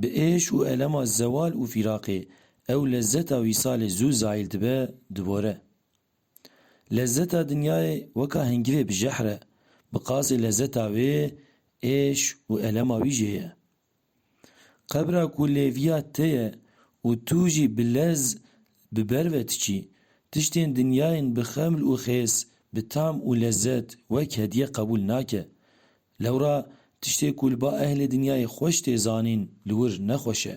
Bi êş û elema zewal û fîraqê ew lezzeta wîsalê zû zayîl dibe, dibore. Lezzeta dinyayê weka hingivê bi jehr e, bi qasê lezzeta wê êş û elema wî jê ye. Qebra ku lêviya te ye û tu jî bi lez bi ber ve diçî, tiştên dinyayên bi xeml û xêz, bi tam û lezzet wek hediye qebûl nake, Lewra tiştê ku li ba ehlê dinyayê xweş tê zanîn li wir ne xweş e.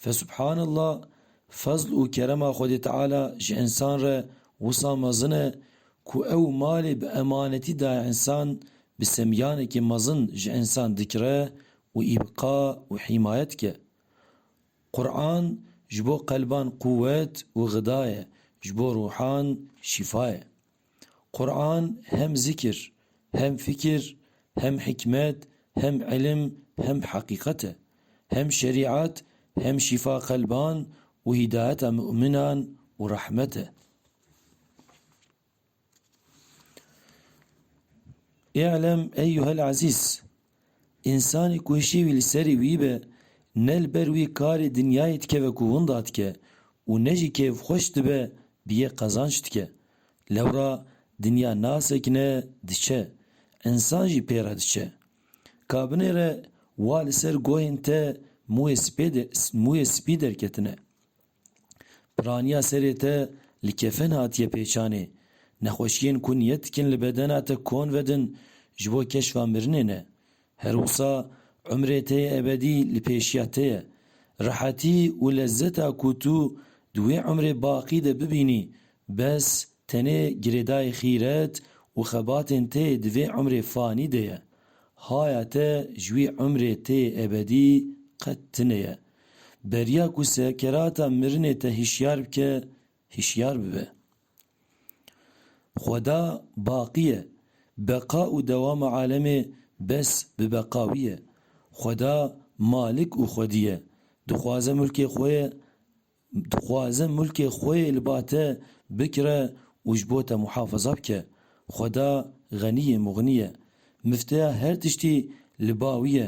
Fesubhanallah fezl û kerema Xwedê Teala ji însan re wisa mezin e ku ew malê bi emanetî daye însan bi semyanekî mezin ji însan dikire û îbqa û hîmaye dike. Quran ji bo qelban quwet û xidaye, ji bo ruhan şîfaye. Quran hem zikir, hem fikir, hem hikmet, hem ilim, hem heqîqet e. Hem şerîat, hem şîfa qelban û hîdayeta mu'minan û rehmet e. Î'lem eyyuhel ezîz, Însanî ku şêwî li serî wî be, ne li ber wî karê dinyayê dikeve ku winda dike û ne jî kêfxweş dibe bi yê qezanç dike. Lewra dinya nasekine diçe, însan jî pê re diçe. Ka binêre wa li ser goyên te mûyê spî derketine. Piraniya serê te li kefen hatiye pêçanê. Nexweşiyên ku niyet dikin li bedena te kon vedin ji bo keşfa mirinê ne. Her wisa umrê te yê ebedî li pêşiya te ye. Rehetî û lezzeta ku tu di wê umrê baqî de bibînî bes tenê girêdayî xîret û xebatên te yê di vê umrê fanî de ye. Haya te ji wî umrê te yê ebedî qet tune ye. Beriya ku sekerata mirinê te hişyar bike, hişyar bibe. Xweda baqî ye, beqa û dewama alemê bes bi beqa wî ye. Xweda Malik û Xwedî ye. Dixwaze mulkê xwe ye dixwaze mulkê xwe yê li ba te bikire û ji bo te muhafaza bike. Xweda Xenî yê Muxnî ye. Mifteya her tiştî li ba wî ye.